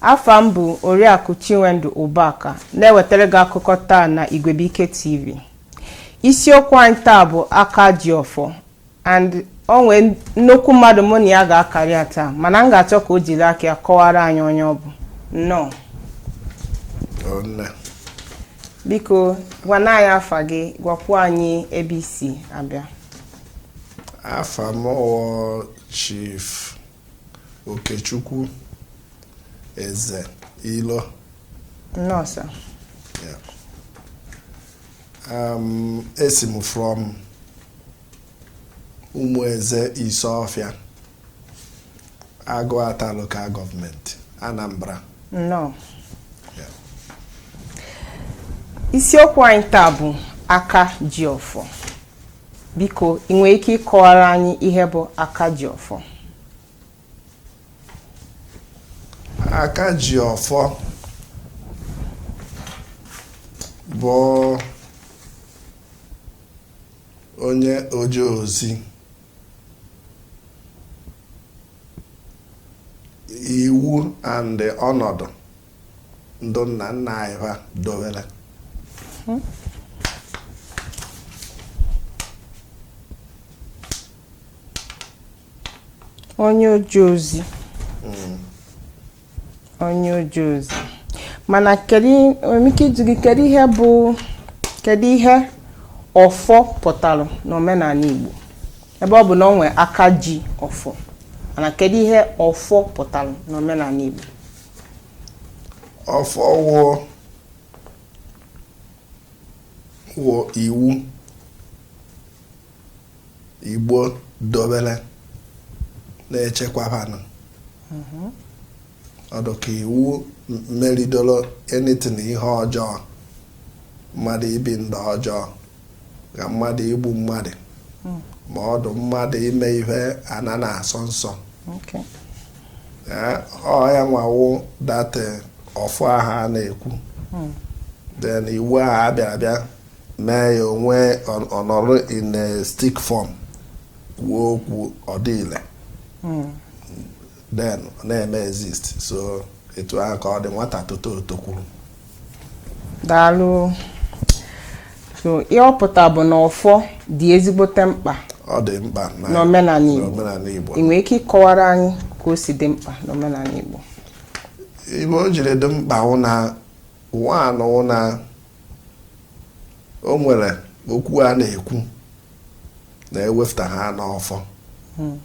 Afa m bụ Oriakụ Chinwendu Ụbaka na-ewetara gị akụkọ taa na Igwebuike TV. Isiokwu anyị taa bụ aka ji ọfọ and o nwee nnukwu mmadụ mụ na ya ga-akarị ya taa mana m ga-achọ ka o jiri aka ya kọwara anyị onye ọ bụ. Nnọọ. Ọ nne. Biko gwana anyị afa gị gwakwuo anyị ebe i si abịa. Afa m wụ Chief Okechukwu Eze Ilo nnọọ sir Yeah. Um, esi m from Umueze Isuofia, Agụata Local Government, Anambra. nnọọ Yeah. isiokwu anyị taa bụ aka ji ọfọ Biko, ị nwere ike ịkọwara anyị ihe bụ Akajiọfọ? Akajiọfọ bụ onye oje ozi iwu and ọnọdụ ndụ nna nna anyị ha dowere onye oje ozi hmm. onye oje ozi mana kedu ike ịjụ gị kedu ihe bụ kedu ihe ọfọ pụtara n'omenala Igbo ebe ọ bụ na o nwee aka ji ọfọ mana kedu ihe ọfọ pụtara n'omenala Igbo ọfọ wụ wụ iwu Igbo dobere na-echekwaba ana mhm. ọ dụ ka iwu meridoro anything ihe ọjọọ mmadụ ibi ndụ ọjọọ ka mmadụ igbu mmadụ hmm. ma ọ dụ mmadụ ime ihe ana na-asọ nsọ ọ ya nwa wụ that ọfọ aha a na-ekwu hmm. then iwu aha a bịara bịa mee ya o wee nọrọ in a stick form kwuo okwu ọ dị ile hmm. then ọ na-eme exist so etu ahụ ka ọ dị nwata tote o tokwuru daalụ so ihe ọ pụta bụ na ọfọ dị ezigbote mkpa ọ dị mkpa n'omenala Igbo ị nwere ike ịkọwara anyị ka o si dị mkpa n'omenala Igbo ibe o jiri dị mkpa wụ na nwa anọ wụ na o nwere okwu a na-ekwu na ewefta ha n'ọfọ hmm.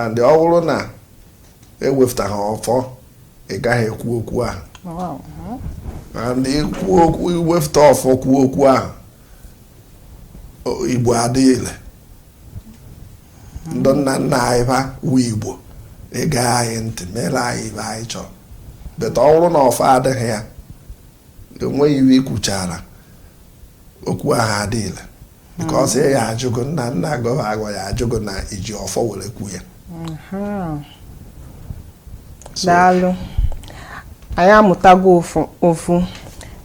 and ọ wụrụ na ewefta ha ọfọ ị gaghị ekwu okwu ahụ and ikwu okwu i wefta ọfọ kwuo okwu ahụ igbo adị ile ndị nna nna anyị ha wu igbo ịga anyị ntị mere anyị ive anyị chọrọ but ọ wụrụ na ọfọ adịghị ya enweghị ive i kwuchara okwu ahụ adị ile because ya ajụ gị nna nna gị va ga ya ajụ gị na i ji ọfọ were kwu ya daalụ anyị amụtago ofu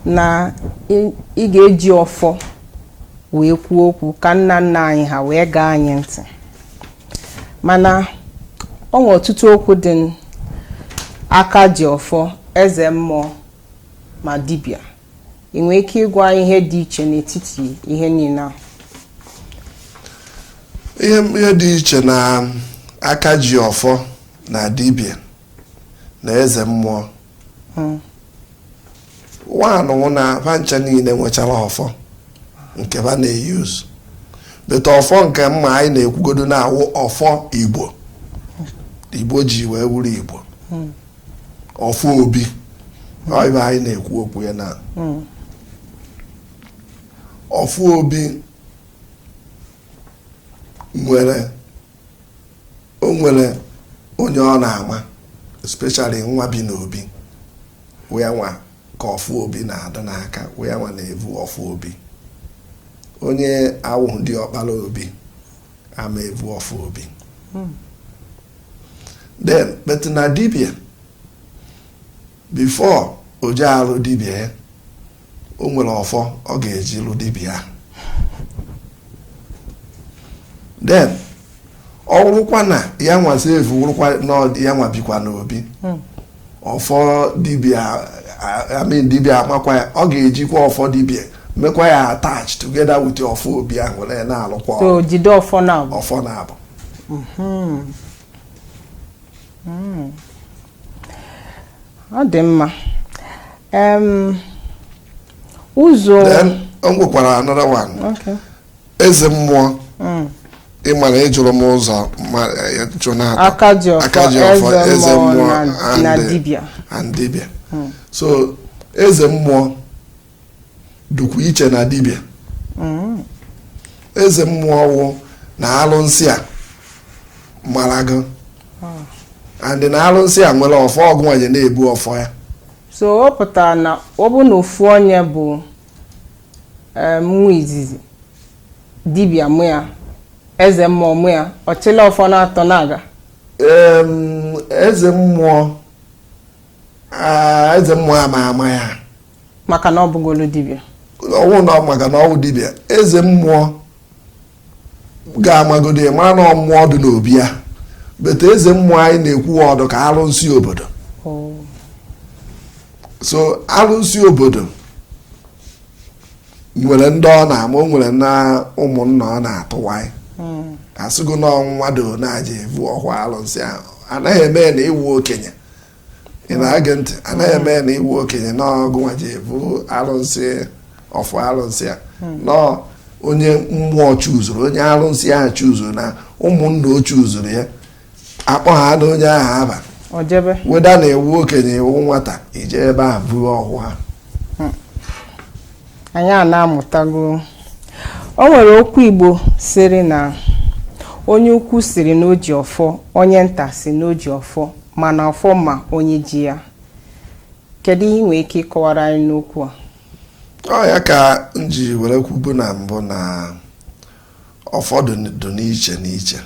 na ị ga-eji ọfọ wee kwuo okwu ka nna nna anyị ha wee gee anyị ntị mana ọ nwere ọtụtụ okwu dị n'aka ji ọfọ eze mmụọ ma dibịa ị nwere ike ịgwa anyị ihe dị iche n'etiti ihe niile a ihe ihe dị iche na aka ji ọfọ na dibịa na eze mmụọ nwanụ wụ na va ncha niile nwechara ọfọ nke ha na-euse but ọfọ nke mma anyị na-ekwugodo na-awụ ọfọ igbo igbo ji wee wuru igbo ọfọ obi ọ ive anyị na-ekwu okwu ya na ọfọ obi nwere o nwere onye ọ na-ama especially nwa bi n'obi wụ ya nwa ka ọfọ obi na-adị n'aka wụ ya nwa na-evu ọfọ obi onye awụghị diọkpara obi ama evu ọfọ obi hmm. then but na dibia before o je alụ dibia ya o nwere ọfọ ọ ga-eji lụ dibia then ọ wụrụkwa na ya nwa so evu wụrụkwa na ya nwa bikwa n'obi hmm. ọfọ dibia I mean dibia amakwa ya ọ ga-ejikwa ọfọ dibia mekwa ya attach together with ọfọ obi ahụ were na-alụkwa jide ọfọ naabọ ọfọ naabọ mm-hmm. mm. ọ dị mma ụzọ nwekwara another one eze mmụọ mm. ị mara ị jụrụ m ụzọ aka ji ọfọ eze mmụọ and dibịa mm. so eze mmụọ dịkwu iche na dibịa mm. eze mmụọ wụ na alụsị a mara gị and na alụsị a nwere ọfọ ọ gị nwa ya na-ebu ọfọ ya so ọ pụtara na ọ bụ na ofu onye bụ nwa izizi dibịa mụ ya eze mmụọ mụ ya ọ chịla ọfọ n'atọ na-aga eze mmụọ eze mmụọ ama ama ya maka na ọ bụgolo dibịa ọ wụ na maka na ọ wụ dibịa eze mmụọ ga-amagodi mara na ọ mmụọ dị n'obi ya but eze mmụọ anyị na-ekwu ọ dụ ka alụnsị obodo oh. so alụnsị obodo nwere ndị ọ na-ama nwere na ụmụnna ọ na-atụwanyị hmm. a sịgo na ọ wụ mmadụ na-aja evu ọfọ alụnsị ahụ anaghị eme na ị wụ okenye ị na-ege ntị anaghị eme ya na ị wụ okenye na ọ gịnwa ja-ebu arụsị ọfọ arụsị a hmm. no onye mmụọ chuzuru onye arụsị ahụ chuzuru na ụmụnna o chuzuru ya akpọ ha na onye ahụ aba whether na ị wụ okenye ị wụ nwata i je ebe ahụ buru ọfọ a anyị a na-amụtago o nwere okwu Igbo sịrị na onye ukwu sịrị na o ji ọfọ onye nta sị na o ji ọfọ mana ọfọ ma onye ji ya kedu ihe ị nwere ike ịkọwara anyị n'okwu a ọ ya ka m ji were kwubu na mbụ na ọfọ dị n'iche n'iche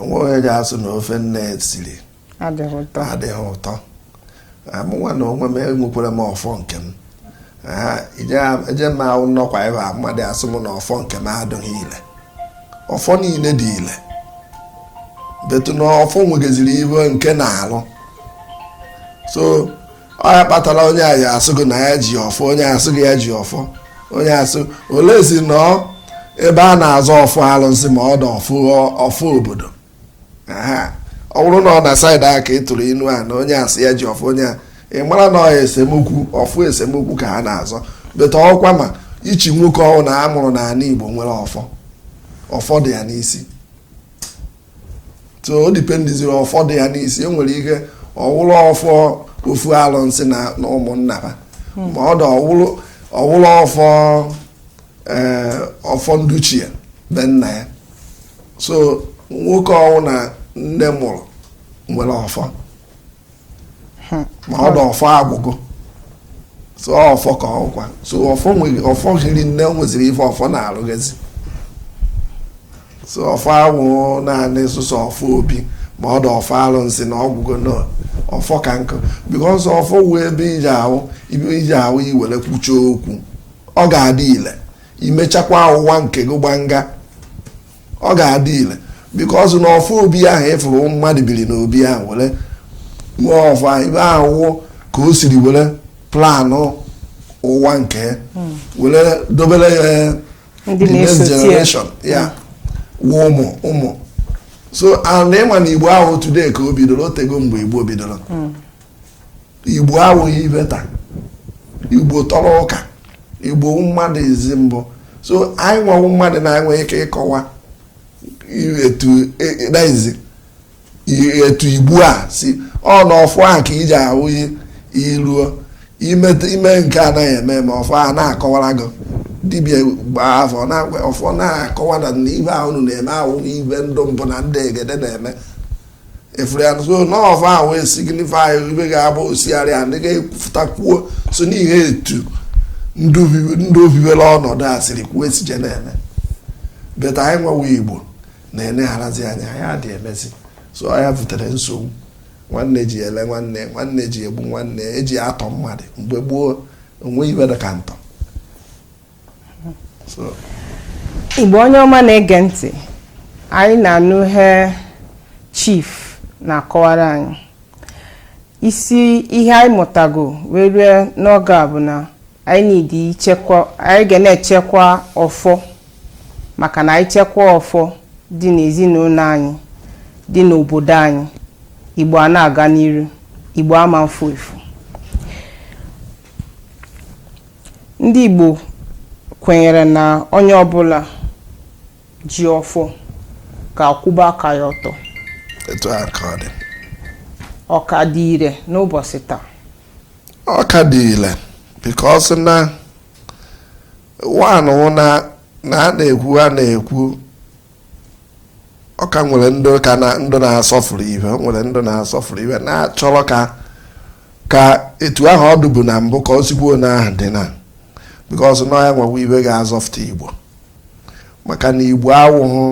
o nweghị onye ga-asụ na ofe nne siri adịghị ụtọ amụnwa na onwe m enwekwara m ọfọ nke m eje m ahụ nnọkwa ebe a mmadụ asụ m na ọfọ nke m adịghị ile ọfọ niile dị ile but na ọfọ nwegaziri ibe nke na-alụ so ọ ya kpatara onye a ya asụ gị na ya ji ọfọ onye asụ gị ya ji ọfọ onye asụ unless ị nọ ebe a na-azọ ọfọ alụsị ma ọ dị ọfọ obodo ọ bụrụ na ọ na side ahụ ka ị tụrụ inu a na onye asị ya ji ọfọ onye a ị mara na ọ ya esemokwu ọfọ esemokwu ka ha na-azọ but ọkwa ma each nwoke ọwụna a mụrụ na ala Igbo nwere ọfọ ọfọ dị ya n'isi so o dipendiziri ọfọ dị ya n'isi e nwere ike ọ wụrụ ọfọ ofu alụnsị na ụmụnna ha hmm. ma ọ dị ọ wụrụ ọfọ eh, ọfọ nduchie be nna ya so nwoke ọwụna nne mụrụ nwere ọfọ hmm. ma ọ dị ọfọ agwụgo so ọfọ ka ọkwa so ọfọ nwere ọfọ hiri nne nweziri ife ọfọ na-arụghezi so ọfọ awụ naanị sọsọ ọfọ obi ma ọ dị ọfọ alụnsị na ọgwụgo na ọfọ ka nkụ because ọfọ wụ ibe i ji ahụ ibe i ji ahụ i were kwuchie okwu ọ ga-adị ile i mechakwa ụwa nke gị gbanga ọ ga-adị ile because na ọfọ obi ahụ ị fụrụ mmadụ biri n'obi ahụ were nwa ọfọ ihe ahụ ka o siri were planụ ụwa nke hmm. were dobere ya eh, the next generation ya hmm. wụ ụmụ ụmụ so ana ịma na igbo awụghị today ka o bidoro o tego mgbe igbo bidoro hmm. igbo awụghị ihe taa igbo tọrọ ụka igbo wụ mmadụ izi mbụ so anyị nwa wụ mmadụ na-enwe ike ịkọwa etu e, e, igbo a si ọ na ọfọ ahụ ka iji ahụ ihe iruo ime nke anaghị eme ma ọfọ a na-akọwara gị dibia gbaa afa ọfọ na-akọwa na ihe a unu na-eme awụghị ihe ndị mbụ na ndị egede na-eme efere ya so na ọfọ ahụ wee signify ihe ga-abụ osigharị a ndị ga-ekwupụtakwuo so n'ihe etu ndị obibi- ndị obibere ọnọdụ a siri kwuo esije na-eme but anyị nwa wụ igbo na-enegharazi anya anyị adị emezi so ya butere nsogbu nwanne ji ele nwanne nwanne ji egbu nwanne e ji atọ mmadụ mgbe gboo o nwe ihe dị ka ntọ igbo onye ọma na-ege ntị anyị na-anụ ihe chief na-akọwara anyị isi ihe anyị mụtago wee rue n'oge a bụ na anyị need ichekwa anyị ga na-echekwa ọfọ maka na anyị chekwa ọfọ dị n'ezinụlọ anyị dị n'obodo anyị igbo ana-aga n'iru igbo ama mfu efu Ndị Igbo kwenyere na onye ọbụla ji ọfọ ga-akwụba aka ya ọtọ etu a ka ọ dị ọ ka dị ire n'ụbọchị taa ọ ka dị ire because na one na a na-ekwu a na-ekwu ọ ka nwere ndị ka na ndị na-asọfuru ihe o nwere ndị na-asọfuru ihe na-achọrọ ka ka etu ahụ ọ dụbu na mbụ ka o sikwuo na ahụ dị na because na ya nwa wụ ihe ga-azọfụta igbo maka na igbo awụhụ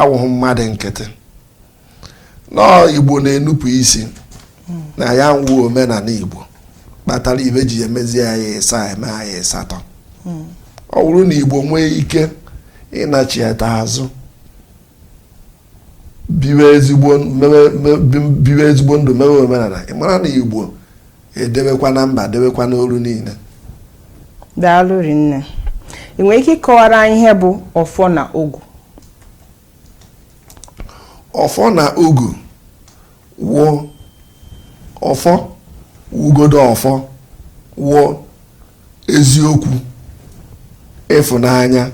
awụhụ mmadụ nkịtị nọọ igbo na-enupụ isi na ya nwa wụ omenala igbo kpatara ihe ji emezi anyị ịsaa eme anyị ịsatọ ọ bụrụ na igbo nwee ike ịnachieta azụ biwe ezigbo ndụ mewe omenala ị mara na igbo edewekwa na mba dewekwa n'olu niile daalụ rinne ị nwere ike ịkọwara anyị ihe bụ ọfọ na ogu ọfọ na ogu wụ ọfọ wugodo ọfọ wụ eziokwu ịfụnanya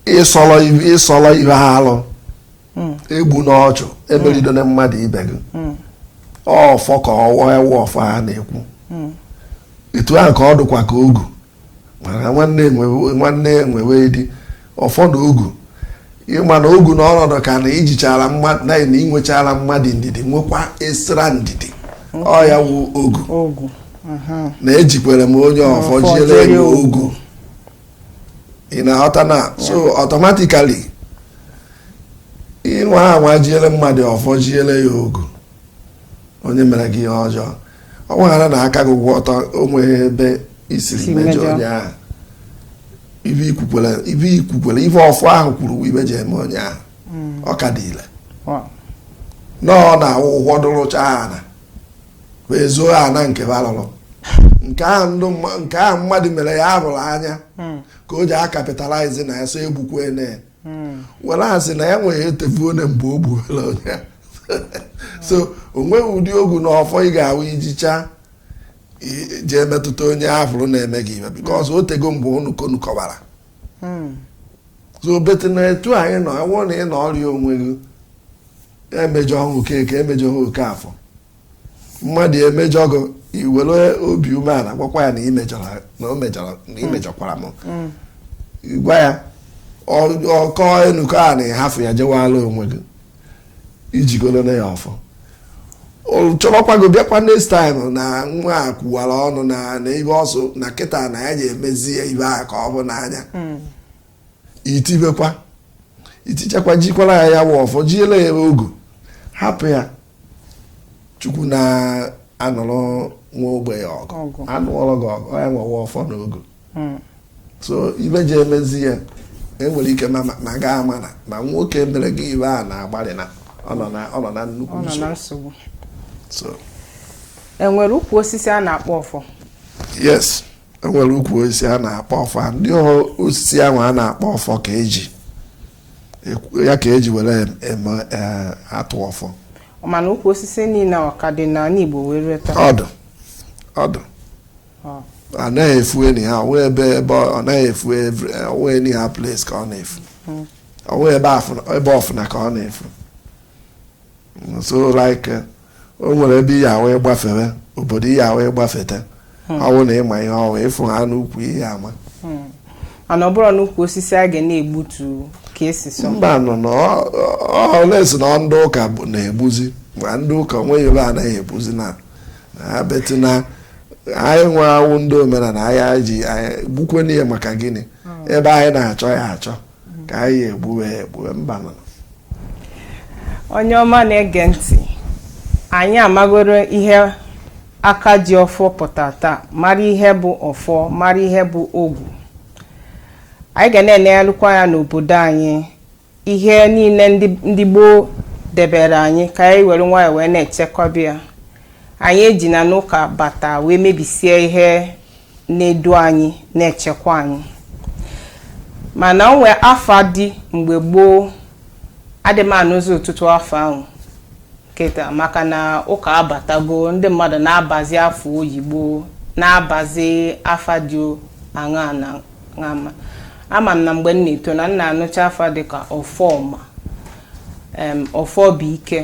ịsọrọ ihe alụ egbuna ọchụ emerido na mmadụ ibe gị ọfọ ka ọ wụ ya wụ ọfọ ha na-ekwu etu ahụ ka ọ dụkwa ka ogu maka nwanne enwewe dị ọfọ na ogu ịma na ogu na ọnọdụ ka na ijichara mmadụ na na inwechara mmadụ ndidi nwekwa esira ndidi ọ ya wụ ogu na ejikwere m onye ọfọ jiere ya ogu. ị na-aghọta na so automatically ịnwa anwa jiere mmadụ ọfọ jiere ya ogu onye mere gị ihe ọjọọ ọ wụhara na aka gị kwụ ọtọ onweghị ebe i siri mejọ onye ahụ ibe i kwukwara ibe ọfọ ahụ kwuru ibe ji eme onye ahụ hmm. ọ ka dị ile nọọ na awụ ụgwọ dụrụcha ana wee zoo ana nke balụrụ nke ahụ mmadụ mere ya abụrụ anya hmm. ka o ji a-capitalize na ya so egbukwe na were asị na ya nwere etefone mgbe o gbuola onye so o nweghị ụdị ogu na ọfọ ị ga-ahụ ijicha jee metụta onye afụrụ na-eme gị ibe because o tego mgbe unu ka unu kọwara so bete na etu anyị nọ enwụọ na ị nọrịa onwe gị emejọ ha Okeke emejọ ha Okeafọ mmadụ emejọ gị iwere obi umeala gwakwa ya na imejọkwara m gwa ya ọ- ọkọ enukọ a na ịhafụ ya jewala onwe gị ijigoro na ya ọfọ ọ chọrọkwa gị bịakwa next time na nwa a kwuwara ọnụ na na ibe ọ sọ na kịta na ya ga-emezi ya ibe a ka ọ bụ n'anya itibekwa itichakwa jikwara ya ya wụ ọfọ jiele ya ogu hapụ ya chukwu na-anụrụ nwa ogbenye ọgụ anụọrọ gị ọgụ ya nwewa ọfọ na ogu hmm. so ibe ji emezi ya enwere ike na gị amana ma nwoke mere gị ibe a na-agbalị na ọ nọ na nnukwu nsogbu enwere ukwu osisi a na-akpọ ọfọ yes enwere ukwu osisi a na-akpọ ọfọ ndị osisi ahụ a na-akpọ ọfọ ka eji ya ka eji were atụ ọfọ mana ukwu osisi niile a ọ ka dị n'ala igbo wee rue taa ọ dụ ọ dụ. ọ naghị efu anyhow ọ naghị efu anyhow place ka ọ na-efu ọ wụ ebe ofu naa ka ọ na-efu so like eh, o nwere ebe ihe ahụ ịgbafere obodo ihe ahụ ịgbafete ọ bụrụ na ị ma ihe ọ wụ ị fụ ha n'ukwu ị ya ama na ọ bụrụ n'ukwu osisi a ga na-egbutu ka esi sọ mba nụ na ọ- ọ- ọ na-asị na ndị ụka bụ- na-egbuzi ma ndị ụka onweghị ebe anaghị egbuzi na na ha but na anyị nwa wụ ndị omenala anyị ji anyị gbukwanụ ya maka gịnị ebe anyị na-achọ ya achọ ka anyị egbue egbu mba nụ onye ọma na-ege ntị anyị amagoro ihe aka ji ọfọ pụta taa mara ihe bụ ọfọ mara ihe bụ ogwu anyị ga na-enegharịkwa ya n'obodo anyị ihe niile ndị gboo debere anyị ka anyị were nwayọọ wee na-echekọba ya anyị ejina na ụka bata wee mebisie ihe na-edu anyị na-echekwa anyị mana o nwee afa dị mgbe gboo adị m anụzi ọtụtụ afa ahụ kịta maka na ụka abatago ndị mmadụ na-abazi afa oyibo na-abazi afa dị aṅaa na aṅaa ma ama m na mgbe m na-eto na m na-anụcha afa dịka ọfọma em ọfọ bụ ike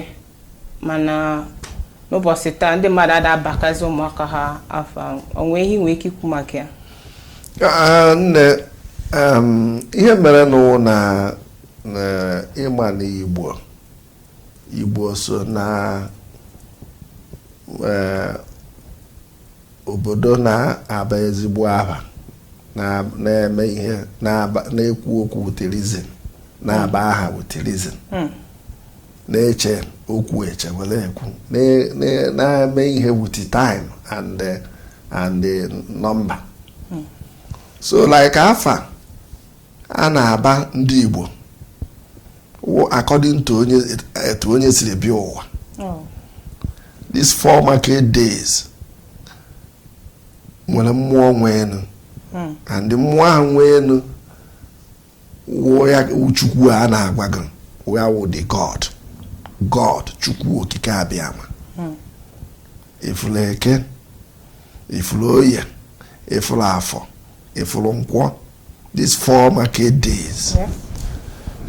mana n'ụbọchị taa ndị mmadụ ada abakazi ụmụaka ha afa ahụ o nwee ihe i nwee ike ikwu maka ya Ah, nne em, ihe merenụ wụ na na ịma na igbo igbo so na eh, obodo na-aba ezigbo aha na- na-eme ihe na-aba- na-ekwu okwu with reason na-aba aha with reason Hmm. na-eche okwu eche were ekwu na-eme ihe with time and eh, and eh, number hmm. so like afa a na-aba ndị Igbo according to onye etu onye siri bịa ụwa oh. these four market days nwere mmụọ nwe enu hmm. and mmụọ ahụ nwe enu wụ ya wụ chukwu a na-agwa gị wụ ya wụ the god god chukwu okike abịama ị fụrụ eke ị fụrụ oye ị fụrụ afọ ị fụrụ nkwọ these four market days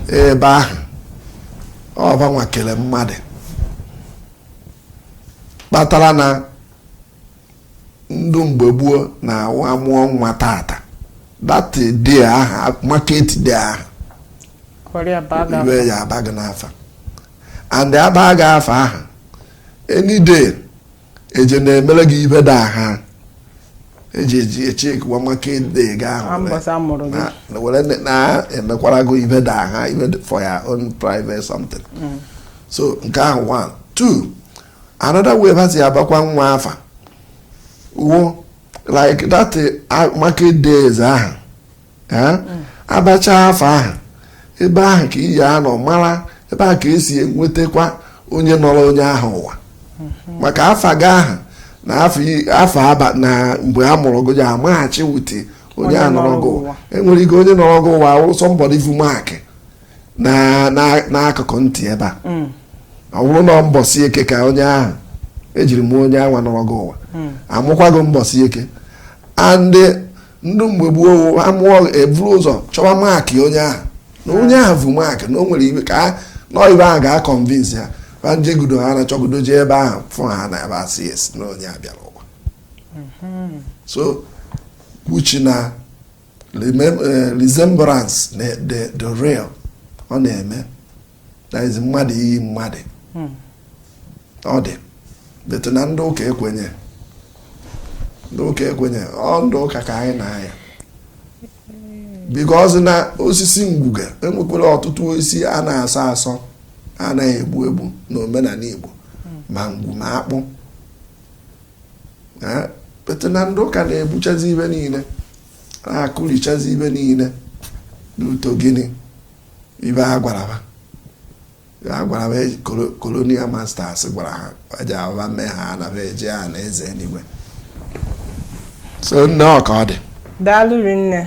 ebe ahụ ọ bụ ha nwa kere mmadụ kpatara na ndụ mgbe gboo na-awụ amụọ nwa tata that day aha market day aha iwe ya aba gị n'afa and aba gị afa aha any day eje na-emere gị ibe day aha eji eji echekwa market day gị ahụ were na-emekwara gị ibe day aha ibe for your own private something mm. so nke ahụ one two another way ba si abakwa nwa afa wụ like that uh, market days ahụ eh? abacha afa ahụ ebe ahụ ka iyi anọ mara ebe ahụ ka esi enwetakwa onye nọrọ onye ahụ ụwa maka afa gị ahụ na afọ i- afọ aba na mgbe a mụrụ gị ya amaghachi wute onye nọrọ gị ụwa. enwere ike onye nọrọ gị ụwa wụrụ somebody vu mark na- na- n'akụkụ ntị ebe a ọ bụrụ na mbọsị eke ka onye ahụ ejiri mụọ onye anwa nọrọ gị ụwa amụkwa gị mbọsị eke and ndị mgbe gboo amụọ eburu ụzọ chọwa mark onye ahụ na onye ahụ vu mark na o nwere ibe ka a- nọ ibe ahụ ga-aconvince ha ba njegudo ha na chọgudo jee ebe ahụ fụ ha na ebe asị esi na onye a bịara ụwa so kwuchi na Eh, resemblance dị real ọ na-eme that is mmadụ iyi mmadụ hmm. ọ dị but na ndị ụka ekwenye ndị ụka ekwenye ọ ndị ụka ka anyị na-aya because na osisi ngwu ga enwekwara ọtụtụ osisi a na-asọ asọ anaghị egbu egbu na omenala Igbo hmm. ma ngwu ma akpụ but na ndị ụka na-egbuchazi ibe niile na-akụrichazi ibe niile n'uto gịnị ibe ha gwara ha ha gwara ha e, colonial masters gwara ha eji aba mee ha na be eje anaeze eluigwe so nne ọ ka ọ dị daalụ rinne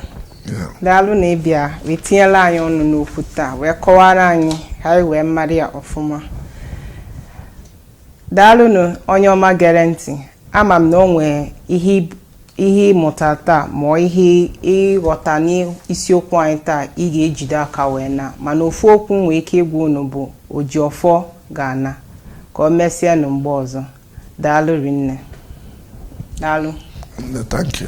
daalụ na ịbịa wee tinyela anyị ọnụ n'okwu taa wee kọwara anyị ka anyị wee mara ya ọfụma daalụnụ onye ọma gere ntị ama m na o nwee ihe ihe ịmụta taa ma ihe ịghọta n'isiokwu anyị taa ị ga-ejide aka wee na mana ofu okwu nwee ike ịgwa unu bụ oji ọfọ ga-ana ka o mesịa nụ mgbe ọzọ daalụ rinne daalụ thank you